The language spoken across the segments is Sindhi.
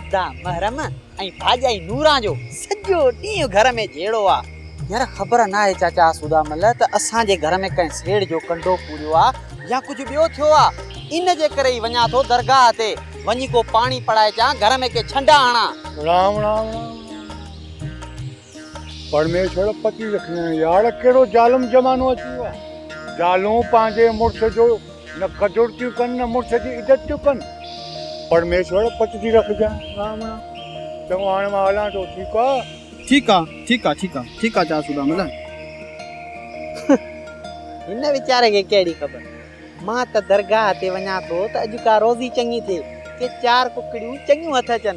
ادا محرم ۽ ڀاڄائي نوران جو سڄو ڏينهن گهر ۾ جهيڙو آ. يار خبر ناهي چاچا آسودا مل ته اسان جي گهر ۾ ڪنهن سيڙ جو ڪنڊو پوريو آ يا ڪجهه ٻيو ٿيو آ ان جي ڪري ئي وڃان ٿو درگاهه تي وڃي ڪو پاڻي پڙائي اچان گهر ۾ ڪي ڇنڊا هڻان. رام رام رام رام. پرميشور پتي لکنائين، يار ڪهڙو ظالم زمانو اچي ويو آهي. زالون پنهنجي مڙس جو نه قدر ٿيون ڪن نه مڙس جي عزت ٿيون ڪن. پرميشور پت ٿي رکجان ٻاهمڻا. چڱو هاڻي مان هلان ٿو ٺيڪ آ. ٺيڪ آ ٺيڪ آ ٺيڪ آ ٺيڪ آ چار سودا ملن. هن ويچاري کي ڪهڙي خبر مان ته درگاهه تي وڃان ٿو ته اڄ ڪا روزي چڱي ٿئي ڪي چار ڪڪڙيون چڱيون هٿ اچن.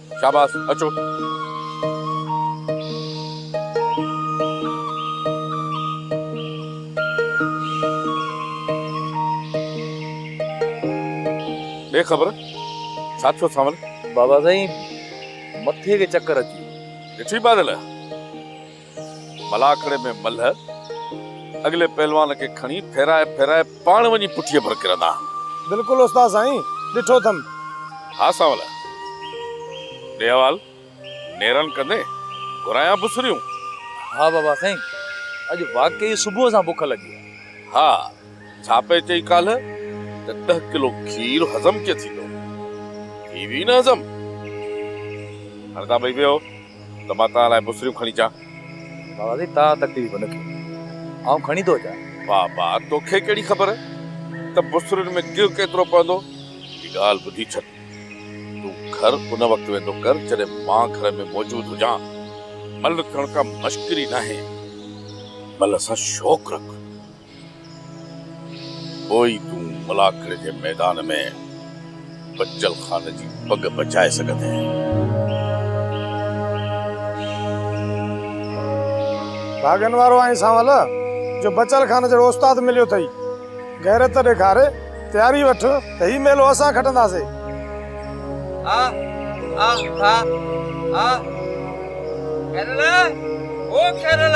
شاباس اچو. ڏي خبر ڇا ٿيو سانول. بابا سائين مٿي کي چڪر اچي ويو. ڏٺئي بادل. ملاکڙي ۾ ملهه اڳلي پهلوان کي کڻي ڦيرائي ڦيرائي پاڻ وڃي پٺيء پر ڪرندا آهن. بلڪل استاد سائين ڏٺو اٿم. ها سانوليا ڏي حوال نيرن ڪندي گهرايان بسريون. ها بابا سائين اڄ واقعي صبح سان بک لڳي آهي. ها ڇا پئي چئي ڪالهه ته ڏهه ڪلو کير هضم ڪيئن ٿيندو ٿي ويئي نه هضم هاڻي تان ٻئي ويهو. ته مان توهان لاء بسريون کڻي اچان؟ بابا سائين توهان تڪليف نه ڪيو آئون کڻي ٿو اچان. بابا توکي ڪهڙي خبر ته بسرين ۾ گيهه ڪيترو پوندو. هڪ ڳالهه ٻڌي ڇڏ تون گهر ان وقت ويندو ڪر جڏهن مان گهر ۾ موجود هجان ملهه ٿيڻ ڪا مشڪري ناهي ملهه سان شوق رک. پوء ئي تون ملاکڙ جي ميدان ۾ بچل خان جي پڳ بچائي سگهندينء. ڀاڳن وارو آهين سانول جو بچل خان جهڙو استاد مليو اٿئي. غيرت ڏيکار، تياري وٺ ته هي ميلو اسان کٽنداسين. آه آه آه آه خيرل او خيرل.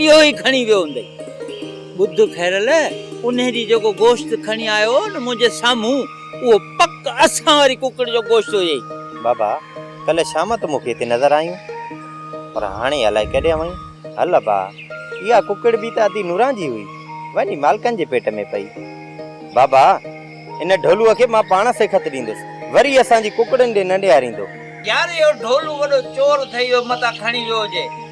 اهو ئي کڻي ويو هوندئي. ٻڌ خيرل، انهي ڏينهن جيڪو گوشت کڻي آيو هو نه منهنجي سامهون، اهو پڪ اسان واري ڪڪڙ جو گوشت هيئي. بابا، ڪلهه شام تون مون کي هتي نظر آئينء، پر هاڻي الائي ڪيڏانهن وئين؟ هل ابا، اها ڪڪڙ به ته ادي نوران جي هئي، وڃي مالڪن جي پيٽ ۾ پئي. بابا، ان ڍولوء کي مان پاڻ سيکت ڏيندس، وري اسان جي ڪڪڙن ڏي نه نهاريندو. يار، اهو ڍولو وڏو چور اٿئي، جو متان کڻي ويو هجئي.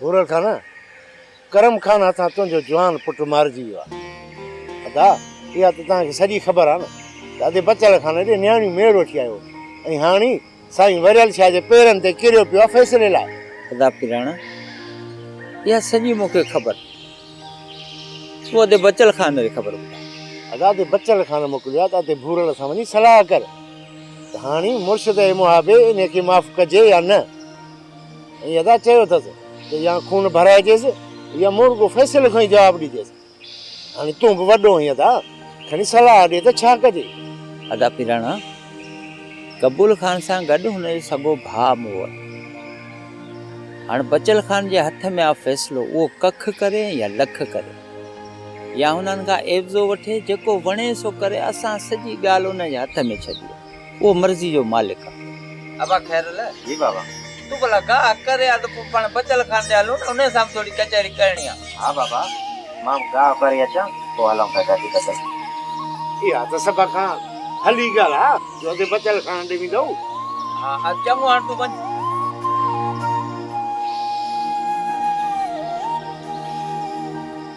ڀورڙ خانه! ڪرم خان هٿان تنهنجو جوان پٽ مارجي ويو آهي. ادا، اها ته توهان کي سڄي خبر آهي نه ته ادي بچڙ خان ڏي نياڻيون ميڙ وٺي آيو هو ۽ هاڻ هي سائين وريل شاهه جي پيرن تي ڪريو پيو آهي فيصلي لاء. ادا پيراڻا! اها سڄي مون کي خبر آهي. تون ادي بچڙ خان جي خبر ٻڌاء. ادا، ادي بچڙ خان موڪليو آهي ته ادي ڀورڙ سان وڃي صلاح ڪر ته هاڻ هي مرشد اي محابي انهيء کي معاف ڪجي يا نه؟ ائين ادا چيو اٿس ته يا خون ڀرائجيس يا مور ڪو فيصلو کڻي جواب ڏجيس. هاڻي تون به وڏو آهين ادا، کڻي صلاح ڏي ته ڇا ڪجي؟ ادا پراڻا قبول خان سان گڏ هن جو سڳو ڀاء مون وٽ هاڻ بچل خان جي هٿ ۾ آ فيصلو اهو ڪک ڪري يا لک ڪري يا هنن کان عيوضو وٺي جيڪو وڻي سو ڪري اسان سڄي ڳالهه ان جي هٿ ۾ ڇڏي آهي. اهو مرضي جو مالڪ آ. ابا خير الله. جي بابا. تون ڀلا ڪا ڪري آ ته پوء پاڻ بچل خان ڏي هلون نه انهي سان به ٿوري ڪچهري ڪرڻي آ. ها بابا مان به گاهه ڀري اچان پوء هلون ٿا گڏجي بچل خان ڏي. اها ته سڀ کان ڀلي ڳالهه آ جو اڳي بچل خان ڏي ويندؤ. ها ها چڱو هاڻ تون وڃ.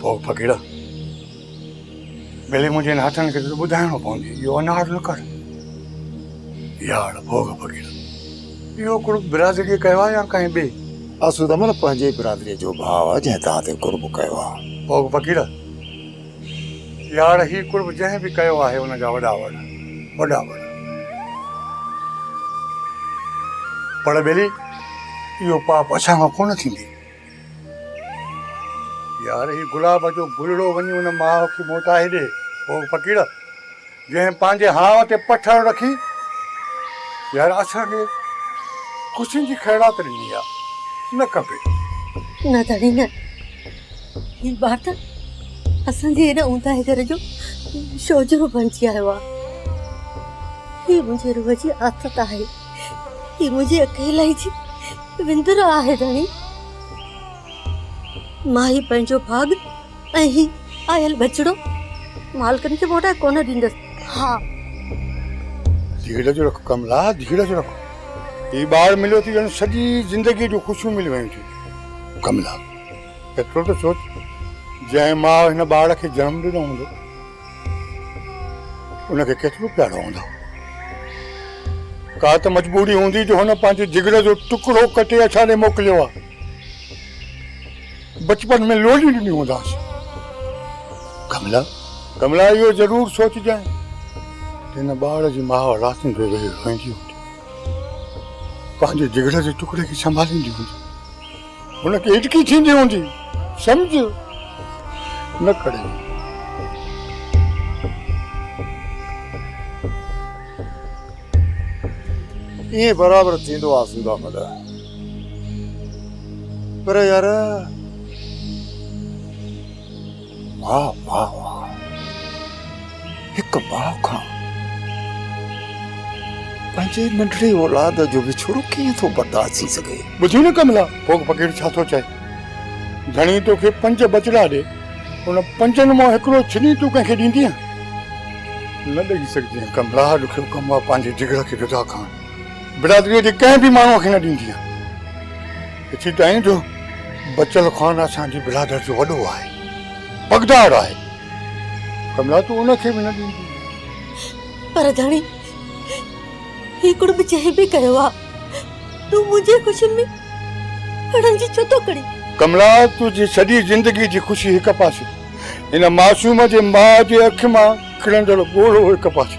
پوء ڦڪيڙا ڀلي منهنجي هن هٿن کي ته ٻڌائڻو پوندي اهو انار نه ڪر. ياڙ ڀوڳ ڦڪيڙا اهو قرب برادريء ڪيو آهي يا ڪنهن ٻئي؟ اسود عمر پنهنجي ئي برادريء جو ڀاء آهي جنهن توهان تي قرب ڪيو آهي. ڀوڳ ڦڪيڙا! يار هي قرب جنهن به ڪيو آهي ان جا وڏا وڙ وڏا وڙ. پڙ ٻيلي اهو پاپ اسان کان ڪونه ٿيندي. يار هي گلاب جو گلڙو وڃي ان ماء کي موٽائي ڏي او فقير. جنهن پنهنجي هاء تي پٺڙ رکي يار اسان کي خوشين جي خيرات ڏني آ نه ڪبي. نه ڌڻي نه هي ٻار ته اسان جي هن اونداهي گهر جو شوجهرو بڻجي آيو آ. هي منهنجي روح جي آٿت آهي. هي منهنجي اڪيلائي جي وندر آهي ڌڻي. مان هي پنهنجو ڀاڳ ۽ هي آيل ٻچڙو مالڪن کي موٽائي ڪونه ڏيندس. ها. ڌيڙج رک ڪملا، ڌيڙج رک. هي ٻار مليو ته ڄڻ سڄي زندگيء جون خوشيون ملي ويون ٿيون. ڪملا، ايترو ته سوچ، جنهن ماء هن ٻار کي جنم ڏنو هوندو، ان کي ڪيترو پيارو هوندو. ڪا ته مجبوري هوندي جو هن پنهنجي جگر جو ٽڪرو ڪٽي اسان ڏي موڪليو آهي. بچپن ۾ لوڏي ڏني هونداس. ڪملا، ڪملا اهو ضرور سوچجانء ته هن ٻار جي ماء راتين پئي ويهي روئيندي هوندي. پنهنجي جگر جي ٽڪڙي کي سنڀاليندي هوندي. هن کي هٽڪي ٿيندي هوندي. سمجهه نه ڪري. ائين برابر ٿيندو آ سنڌا ملهه. پر يار واهه واهه واهه هڪ ماء کان پنهنجي ننڍڙي اولاد جو وڇوڙو ڪيئن ٿو برداشت ٿي سگهي. ٻڌ نه ڪملا ڪوڪ فقير ڇا ٿو چئي. ڌڻي توکي پنج ٻچڙا ڏي ان پنجن مان هڪڙو ڇني تون ڪنهن کي ڏيندينء؟ نه ڏئي سگهجين ڪملا ڏکيو ڪم آهي پنهنجي جگر کي جدا ڪرڻ. برادريء جي ڪنهن به ماڻهوء کي نه ڏيندي آهي. اٿي تائين جو بچل خان اسان جي برادر جو وڏو آهي، پڳدار آهي. ڪملا تون ان کي به نه ڏيندي آهين. پر ڌڻي، هي ڪڙٻ جنهن به ڪيو آهي، تون منهنجي خوشين ۾ اڙن جي ڇو ٿو ڪڙين؟ ڪملا، تنهنجي سڄي زندگيء جي خوشي هڪ پاسي، هن معصوم جي ماء جي اک مان ڪرندڙ ڳوڙهو هڪ پاسي.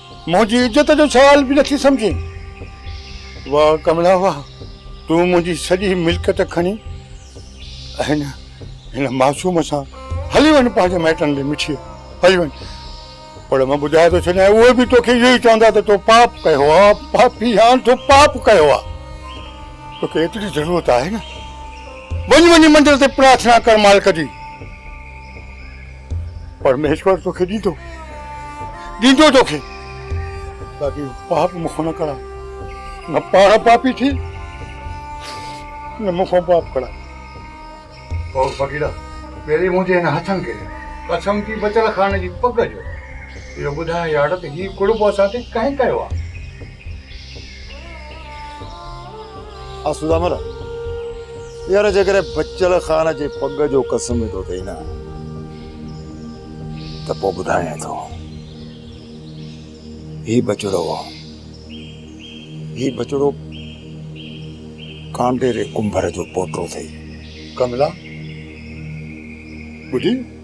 منهنجي عزت جو سوال به نٿي سمجهين. واه ڪملا واه تون منهنجي سڄي ملڪيت کڻي ۽ هن معصوم سان هلي وڃ پنهنجي مائٽن ڏي مٺيء هلي وڃ پر مان ٻڌائي ٿو ڇڏيان اهي به توکي اهو ئي چوندا ته تو پاپ ڪيو آ پاپي هاڻ تو پاپ ڪيو آ توکي ايتري ضرورت آهي نه وڃ وڃي مندر تي پرارٿنا ڪر مالڪ جي. پرميشور توکي ڏيندو، ڏيندو توکي، باقي پاپ مون کان نه ڪرائي، نه پاڻ پاپي ٿي، نه مون کان پاپ ڪرائي. او فقيرا! پهرين منهنجي هن هٿن کي قسم ٿي بچل خان جي پڳ جو اهو ٻڌاء يار ته هي ڪڙٻو اسان تي ڪنهن ڪيو آهي؟ آسوده مر يار جيڪڏهن بچل خان جي پڳ جو قسم ۾ ٿو ٿئي نه ته پوء ٻڌايان ٿو هي بچڙو هي بچڙو ڪانڊيري ڪنڀر جو پوٽو ٿئي ڪملا ٻڌي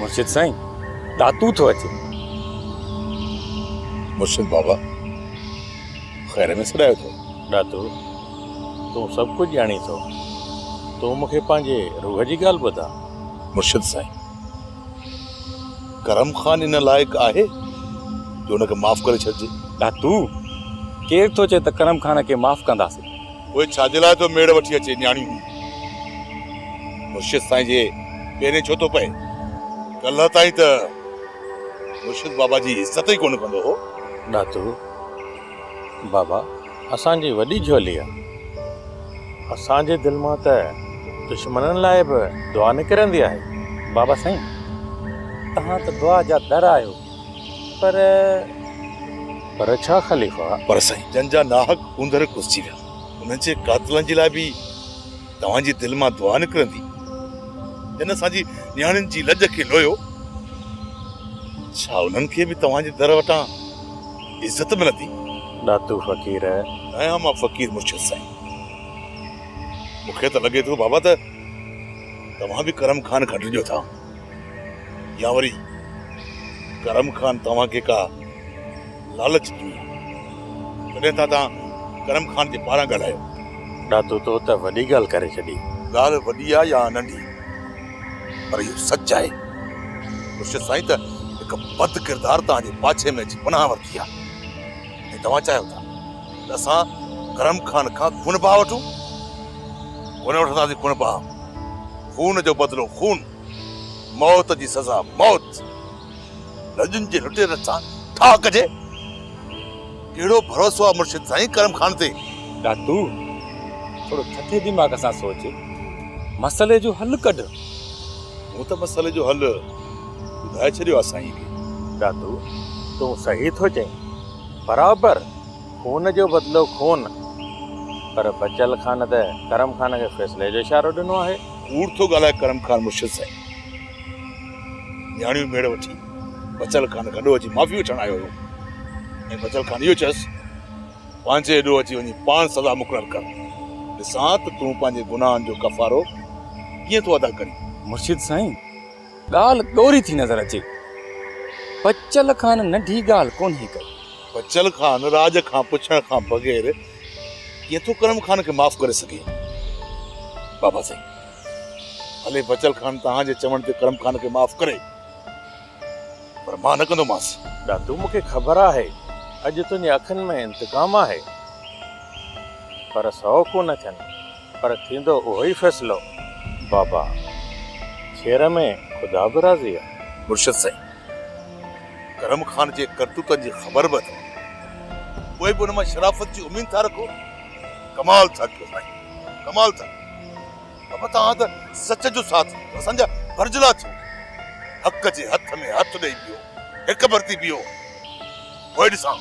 مرشد سائين داتو ٿو اچي مرشد بابا خير ۾ سڏايو ٿو داتو تون سڀ ڪجهه ڄاڻي ٿو تون مونکي پنهنجي روح جي ڳالهه ٻڌاء مرشد سائين ڪرم خان ان لائق آهي جو ان کي معاف ڪري ڇڏجي. داتو! ڪير ٿو چئي ته ڪرم خان کي معاف ڪنداسين؟ اهي ڇا جي لاء ٿو ميڙ وٺي اچي نياڻيون هي مرشد سائين جي پيرين ڇو ٿو پئي؟ ڪلهه تائين ته مرشد بابا جي عزت ئي ڪونه ڪندو هو. داتو! بابا! اسان جي وڏي جهوليء. اسان جي دل مان ته دشمنن لاء به دعا نڪرندي آهي. بابا سائين توهان ته دعا جا در آهيو پر. پر ڇا خليفا؟ پر سائين جن جا ناحق اوندهه کوسجي ويا انهن جي قاتلن جي لاء به توهان جي دل مان دعا نڪرندي. جن اسان جي نياڻين جي لڄ کي لويو ڇا انهن کي به توهان جي در وٽان. عزت ملندي. ڏاتو فقير. ايان مان فقير مرشد سائين. مون کي ته لڳي ٿو بابا ته توهان به ڪرم خان کان ڊڄو ٿا يا وري ڪرم خان توهان کي ڪا لالچ ڏني آهي. تڏهن ٿا توهان ڪرم خان جي پاران ڳالهايو. ڏاتو تو ته وڏي ڳالهه ڪري ڇڏي. ڳالهه وڏي آ يا ننڍي. پر اهو سچ آهي مرشد سائين ته هڪ بد ڪردار توهان جي پاڇي ۾ اچي پناهه ورتي آهي ۽ توهان چاهيو ٿا ته اسان ڪرم خان کان خون باهه وٺون ڪونه وٺنداسين خون باهه خون جو بدلو خون موت جي سزا موت لڄن جي لٽير سان ٺاهه ڪجي. ڪهڙو ڀروسو آ مرشد سائين ڪرم خان تي. ڏاتو! ٿورو ٿڌي دماغ سان سوچ. مسئلي جو حل ڪڍ. مون ته مسئلي جو حل ٻڌائي ڇڏيو آ سائين کي. ڏاتو! تون صحيح ٿو چئين. برابر خون جو بدلو خون. پر بچل خان ته ڪرم خان کي فيصلي جو اشارو ڏنو آهي. ڪوڙ ٿو ڳالهائي ڪرم خان مرشد سائين. نياڻيون ميڙ وٺي بچل خان گڏو اچي معافي وٺڻ آيو هو ۽ بچل خان اهو چيس پنهنجي اڏو اچي وڃي پاڻ سزا مقرر ڪر ڏسان ته تون پنهنجي گناهن جو ڪفارو ڪيئن ٿو ادا ڪرين مرشد سائين ڳالهه ڏوري ٿي نظر اچي بچل خان ننڍي ڳالهه ڪونهي ڪئي بچل خان راڄ کان پڇڻ کان بغير ڪيئن ٿو ڪرم خان کي معاف ڪري سگهي بابا سائين ڀلي بچل خان توهان جي چوڻ تي ڪرم خان کي معاف ڪري پر مان نه ڪندومانس. دادو مون کي خبر آهي اڄ تنهنجي اکين ۾ انتقام آهي پر سؤ ڪو نه ٿين پر ٿيندو اهو ئي فيصلو بابا خير ۾ خدا به راضي آهي. مرشد سائين ڪرم خان جي ڪرتوتن جي خبر به اٿم پوء به ان مان شرافت جي اميد ٿا رکو ڪمال ٿا ڪيو سائين ڪمال ٿا ڪيو. ابا توهان ته سچ جو ساٿ ڏنو اسان جا برجلا ٿيو حق جي هٿ ۾ هٿ ڏئي بيهو هڪ برتي بيهو پوء ڏسان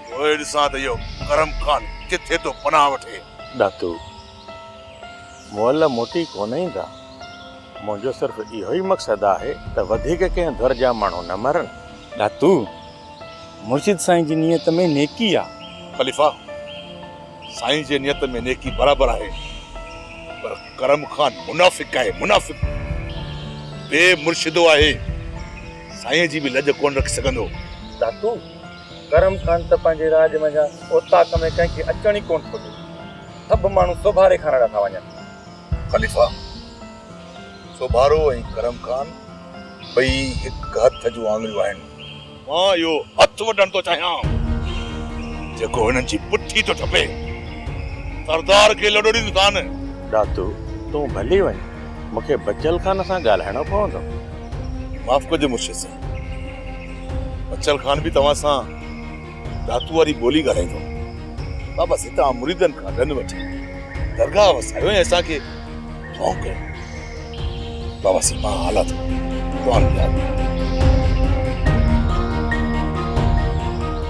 پوء ڏسان ته اهو ڪرم خان ڪٿي ٿو پناهه وٺي. ڏاتو مئل موٽي ڪونه ايندا منهنجو صرف اهو ئي مقصد آهي ته وڌيڪ ڪنهن ڌر جا ماڻهو نه مرن. ڏاتو مرشد سائين جي نيت ۾ نيڪي آ. خليفا سائين جي نيت ۾ نيڪي برابر آهي پر ڪرم خان منافق آهي منافق بي مرشدو آهي سائين جي به لڄ ڪونه رکي سگهندو. داتو ڪرم خان ته پنهنجي راڄ منجهان اوطاق ۾ ڪنهن کي اچڻ ئي ڪونه ٿو ڏي سڀ ماڻهو سوڀاري کان رڙا ٿا وڃن. خليفا سوڀارو ۽ ڪرم خان ٻئي هڪ هٿ جون آڱريون آهن. مان اهو هٿ وڍڻ ٿو چاهيان، جيڪو هنن جي پٺي ٿو ٽپي. سردار کي لڏو ڏيندو ڪانه. ڏاتو، تون ڀلي وڃ، مون کي بچل خان سان ڳالهائڻو پوندو. معاف ڪجو مرشد صاحب، بچل خان به توهان سان ڏاتو واري ٻولي ڳالهائيندو. بابا سيتائان مريدن کان ڏن وٺي درگاهه وسايو ۽ اسان کي. ڀونڪ بابا سي پاڻ آلا ٿو توهان جي آڏو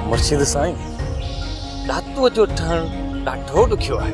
مرشد سائين ڏاتو جو ٺهڻ ڏاڍو ڏکيو آهي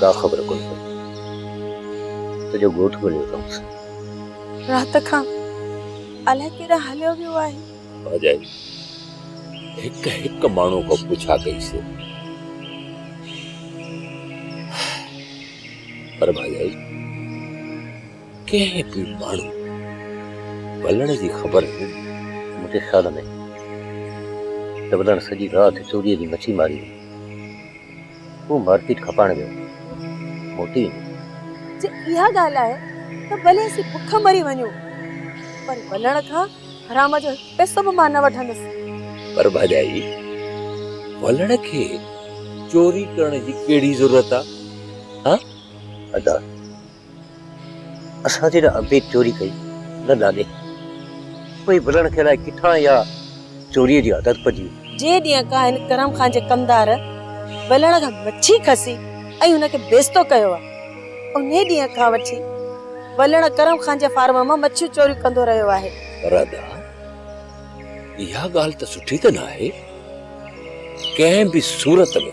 ڪا خبر ڪونه پئي سڄو ڳوٺ ڳوليو اٿائونس. رات کان الائي ڪيڏانهن هليو ويو آهي. ڀاڄائي هڪ هڪ ماڻهو کان پڇا ڪئي سي پر ڀاڄائي ڪنهن به ماڻهو ڀلڻ جي خبر نه ڏني. مونکي خيال ۾ ته ڀلڻ سڄي رات چوريء جي مڇي ماري هئي. هو مارڪيٽ کپائڻ ويو موٽي ايندو. جي اها ڳالهه آهي ته ڀلي اسين بک مري وڃون پر ولڻ کان حرام جو هڪ پئسو به مان نه وٺندس. پر ڀاڄائي ولڻ کي چوري ڪرڻ جي ڪهڙي ضرورت آ؟ ها ادا! اسان جي نه ابي چوري ڪئي نه ناني. پئي ڀلڻ کي الائي ڪٿان اها چوريء جي عادت پئجي وئي. جي ڏينهن ڪا هن ڪرم خان جي ڪمدار ڀلڻ کان مڇي کسي ۽ هن کي بيستو ڪيو آهي، انهي ڏينهن کان وٺي ڀلڻ ڪرم خان جي فارم مان مڇيون چوريون ڪندو رهيو آهي. راڌا، اها ڳالهه ته سٺي ته ناهي. ڪنهن به صورت ۾.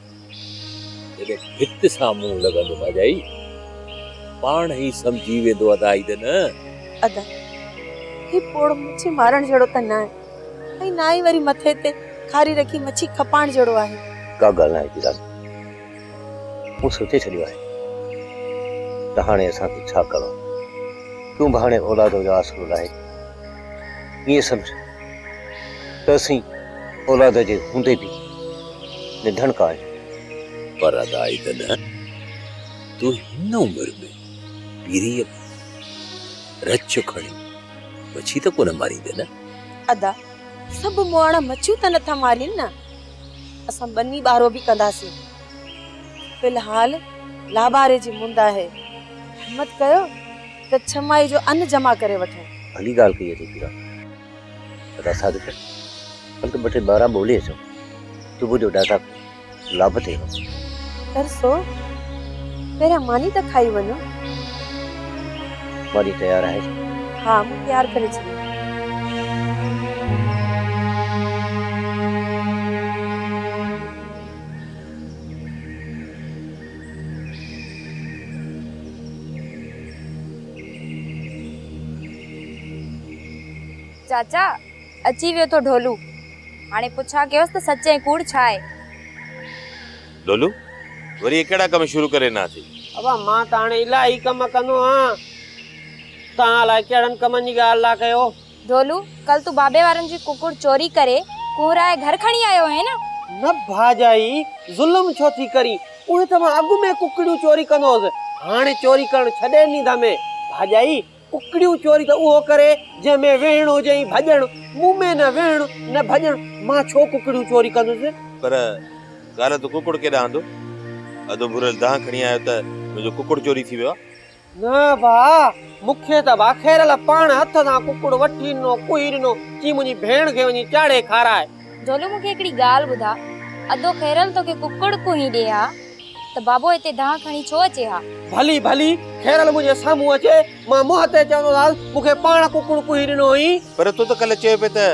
جڏهن ڀت سان منهن لڳندو ڀاڄائي، پاڻ ئي سمجهي ويندو ادا عيد نه. ادا، هي پوڙهو مڇي مارڻ جهڙو ته ناهي ۽ نه ئي وري مٿي تي کاري رکي مڇي کپائڻ جهڙو آهي. ڪا ڳالهه ناهي پيران، مون سوچي ڇڏيو آهي ته هاڻي اسان کي ڇا ڪرڻو آهي. تون به هاڻي اولاد جو آسرو لاهي ائين سمجهه. ته اسين اولاد جي هوندي به ننڌڻڪا آهيون. پر ادا اي ته نه، تون هن عمر ۾ پيريء ۾ رڇ کڻي مڇي ته ڪونه ماريندين نه؟ ادا سڀ مئاڻا مڇيون ته نٿا مارين نه، اسان ٻني ٻارو به ڪنداسين. في الحال لاباري جي مند آهي، همت ڪيو. ته ڇهه ماهي جو ان جمع ڪري وٺون. ڀلي ڳالهه ڪئي اٿئي پيرا. ادا صادق، هل ته ٻه ٽي ٻارا ٻولي اچون. صبح جو ڏاڍا لابه ٿئي ها. ترسو، پهريان ماني ته کائي وڃون. ماني تيار آهي ڇا؟ ها، مون تيار ڪري ڇڏي. چاچا، اچي ويو اٿو ڍولو. هاڻي پڇا ڪيوس ته سچ ۽ ڪوڙ ڇا آهي؟ ڍولو، وري اهي ڪهڙا ڪم شروع ڪري ڏنا اٿئي؟ ابا، مان ته هاڻي الاهي ڪم ڪندو آهيان. توهان الاهي ڪهڙن ڪمن جي ڳالهه ٿا ڪيو. ڍولو، ڪل تون بابي وارن جي ڪڪڙ چوري ڪري ڪنهرائي گهر کڻي آيو هئين نه؟ نه ڀاڄائي، ظلم ڇو ٿي ڪرين، اهي ته مان اڳ ۾ ڪڪڙيون چوري ڪندو هوس، هاڻي چوري ڪرڻ ڇڏي ڏني اٿم. ڀاڄائي، ڪڪڙيون چوري ته اهو ڪري جنهن ۾ ويهڻ هجي ۽ ڀڄڻ، مون ۾ نه ويهڻ نه ڀڄڻ، مان ڇو ڪڪڙيون چوري ڪندس؟ پر ڪالهه تون ڪڪڙ ڪيڏانهن اڌو اڌ ڀريل دانهن کڻي آيو ته منهنجو ڪڪڙ چوري ٿي ويو آ. نه ڀاء، مون کي ته ڀاکيرل پاڻ هٿ سان ڪڪڙ وٺي ڏنو، ڪوهي ڏنو، چي منهنجي ڀيڻ کي وڃي چاڙهي کاراء. جهولو مون کي هڪڙي ڳالهه ٻڌاء، ادو خيرل توکي ڪڪڙ ڪوهي ڏئي ها ته بابو هتي دانهن کڻي ڇو اچي ها؟ ڀلي ڀلي، خيرل منهنجي سامهون اچي، مان منهن تي چوندوسانس، مون کي پاڻ ڪڪڙ ڪوهي ڏنو هئين. پر تو ته ڪلهه چيو پئي ته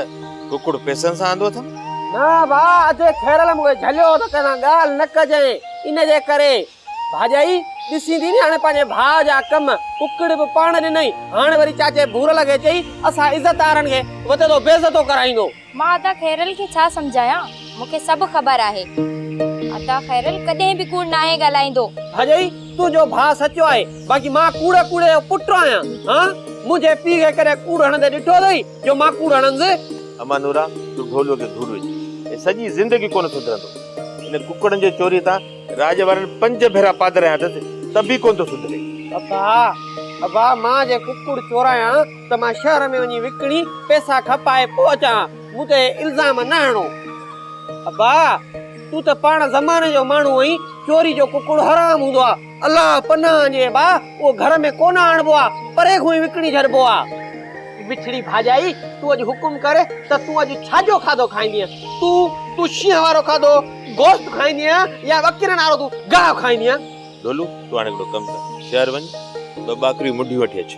ڪڪڙ پئسن سان آندو اٿم؟ نه ڀاء، ادي خيرل مون کي جهليو ته ڪنهن سان ڳالهه نه ڪجانء، ان جي ڪري. ڀاڄائي ڏسين ٿي نياڻي پنهنجي ڀاء جا ڪم ڪڪڙ به پاڻ ڏنئي هاڻ وري چاچي ڀورل کي چئي اسان عزتدارن کي وڌندو بيعزتو ڪرائيندو. مان عطا خيرل کي ڇا سمجهايان مون کي سڀ خبر آهي عطا خيرل ڪڏهن به ڪوڙ ناهي ڳالهائيندو. ڀاڄائي تنهنجو ڀاء سچو آهي باقي مان ڪوڙ ڪوڙي جو پٽ آهيان هان منهنجي پيء کي ڪڏهن ڪوڙ هڻندي ڏٺو اٿئي جو مان ڪوڙ هڻنس. امان نورا تون ڍوليو کي ڍولو ئي سڄي زندگي ڪونه سڌرندو ان ڪڪڙن جي چوري تان. راڄ وارن پنج ڀيرا پادريان اٿس ته به ڪونه ٿو سڌري. ابا ابا مان جي ڪڪڙ چورايان ته مان شهر ۾ وڃي وڪڻي پئسا کپائي پوء اچان مون تي الزام نه هڻو. ابا تون ته پاڻ زماني جو ماڻهو آهين چوري جو ڪڪڙ حرام هوندو آهي الله پناهه آڻجي ابا اهو گهر ۾ ڪونه آڻبو آهي پري کان ئي وڪڻي ڇڏبو آهي. مٺڙي ڀاڄائي تون اڄ حڪم ڪر ته تون اڄ ڇا جو کاڌو کائيندينء تون تون شينهن وارو کاڌو گوشت کائيندين يا وڪير نارو تون گاهه کائيندين. ڍولو تون هاڻي هڪڙو ڪم ڪر شهر وڃ ٻه ٻاڪريون مڍيون وٺي اچ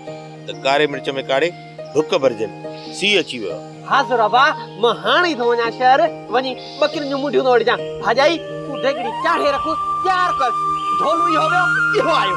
ته ڪاري مرچ ۾ ڪاڙهي ڍڪ ڀرجن سيء اچي ويو آ. ها زورابا مان هاڻ ئي ٿو وڃان شهر وڃي ٻڪرين جون مڍيون ٿو وٺجان ڀاڄائي تون ديڳڙي چاڙهي رک تيار ڪر ڍولو اهو ويو اهو آيو.